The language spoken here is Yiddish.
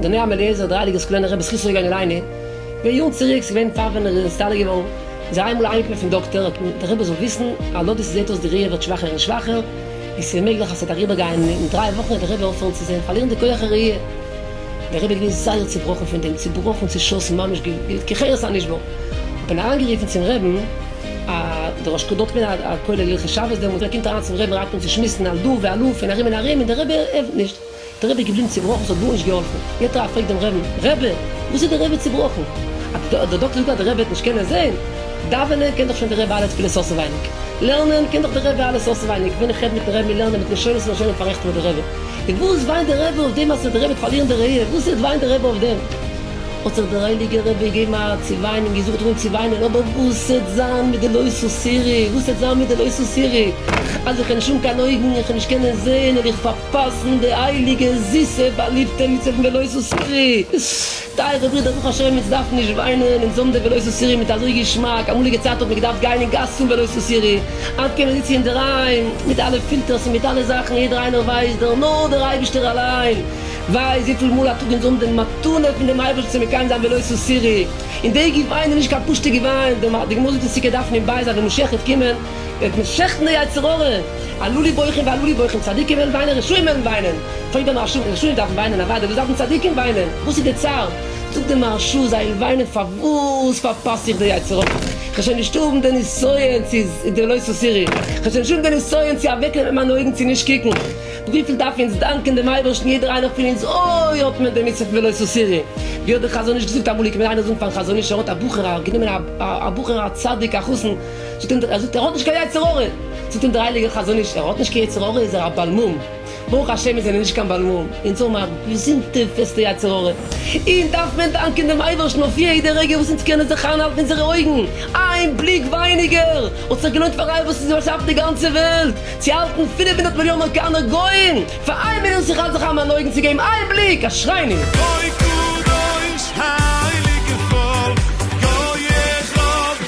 דער נייער מעלעזער דריידל איז געווען הרב זכותו יגן עלינו, ווען יארן צוריק איז געווען פאר ווען ער איז נסתלק געווארן, איז ער איינמאל אהיים געקומען פון דאקטער האט אים דער רבי זאל וויסן אז לויט ווי ס'זעט אויס די ראי' ווערט שוואכער און שוואכער, און ס'איז מעגליך אז ס'וועט אריבער גיין און דריי וואכן וועט דער רבי אויפהערן צו זען, פארלירן די כח הראי'. דער רבי איז געווען זייער צובראכן פון דעם, צובראכן, צעשאסן, ממש געווען כחרס הנשבר, האט מען אריינגערופן צום רעבן א, דער ראש דארט איז געווען א כולל הלכות שבת דעמאלט, ער קומט אריין צום רעבן אנהייבט אן צו שמועסן על דא ועל הא פון ארום און ארום און דער רבי ענפערט נישט, דער רבי איז געבליבן צובראכן ס'האט גארנישט געהאלפן, יעצט א פרעגט דעם רעבן, רעבע וואס איז דער רעבע צובראכן? א, דער דאקטער זאגט אז דער רעבע וועט נישט קענען זעהן, דאווענען קען דאך שוין דער רעבע אלע תפילות אויסענווייניג, לערנען קען דאך דער רעבע אלעס אויסענווייניג, ווען איך רעד מיטן רעבן מיר לערנען מיט לשונות ומשונים פארעכטן מיר דער רעבע. און וואס וויינט דער רבי אויף דעם אז דער רבי וועט פארלירן די ראיה? וואס איז וויינט דער רבי אויף דעם? האט זיך דער הייליגער רבי געגעבן א צו וויינען און געזאגט אן צו וויינען, אבער וואס העט זיין מיט די לא סוסירי? וואס העט זיין מיט די לא סוסירי? אז איך האב נישט אן קיין אויגן, איך וועל נישט קענען זעהן, העל איך פארפאסן די הייליגע זיסע באליבטע מצוה פון די לא סוסירי? טייערע ברידער ברוך השם אונז דארפן נישט וויינען, אונז האבן די ולא תסירי מיט אזוי געשמאק, אמאליגע צייטן האט מען געדארפט גיין אין גאס צום ולא תסירי, היינט קען מען זיצן אינדערהיים מיט אלע פילטערס און מיט אלע זאכן, יעדער איינער ווייסט דער נאר דער אייבישטער אליין ווייסט וויפיל מאל א טאג אונז האבן די מתנה פון דעם אייבערשטן צו מקיים זיין ולא תסירי, און די געוויין איז נישט קיין פשוטע געוויין, די גמרא זאגט אונז צדיקה דארפן אין בית זיין ווען משיח וועט קומען. וועט מען שעכטן די יצר הרע, עלו לי בוכים ועלו לי בוכים, צדיקים וועלן וויינען רשעים וועלן וויינען, טויבע מהרשא, רשעים דארפן וויינען אוודאי, וואס דארפן צדיקים וויינען, וואס איז די צער, זאגט די מהרשא, זיי וועלן וויינען פארוואס פארפאס איך די יצר הרע, כ'זאל נישט האבן די נסיון צו די לא תסירי, כ'זאל נישט האבן די נסיון צו אוועקנעמען מיינע אויגן צו נישט קוקן, וויפיל דארפן אונז דאנקען דעם אייבערשטן יעדער איינער פון אונז, אוי האט מען די מצוה פון ולא תסירי, ווי האט דער חזון איש געזאגט אמאל, איך קען מיר איינער זאגן פארן חזון איש, ער האט א בחור, ער האט גענומען א בחור א צדיק א חתן, ער זאגט ער האט נישט קיין יצר הרע, זאגט אים דער הייליגער חזון איש, ער האט נישט קיין יצר הרע איז ער א בעל מום, ברוך השם מיר זענען נישט קיין בעל מום, אונז האבן א געזונטע פעסטע יצר הרע, אונז דארף מען דאנקען דעם אייבערשטן אויף יעדע רגע וואס אונז קענען זיך איינהאלטן אונזערע אויגן, איין בליק ווייניגער האט זיך געלוינט פאר אייוועלט וואס איז באשאפן די גאנצע וועלט צו האלטן פֿינף הונדערט מיליאן אמעריקאנער גוים פאר איין מינוט זיך אנצוכאפן מיין אויגן צו געבן איין בליק, אשרינו! אוי קדוש הייליגע פאלק גויעך רוב.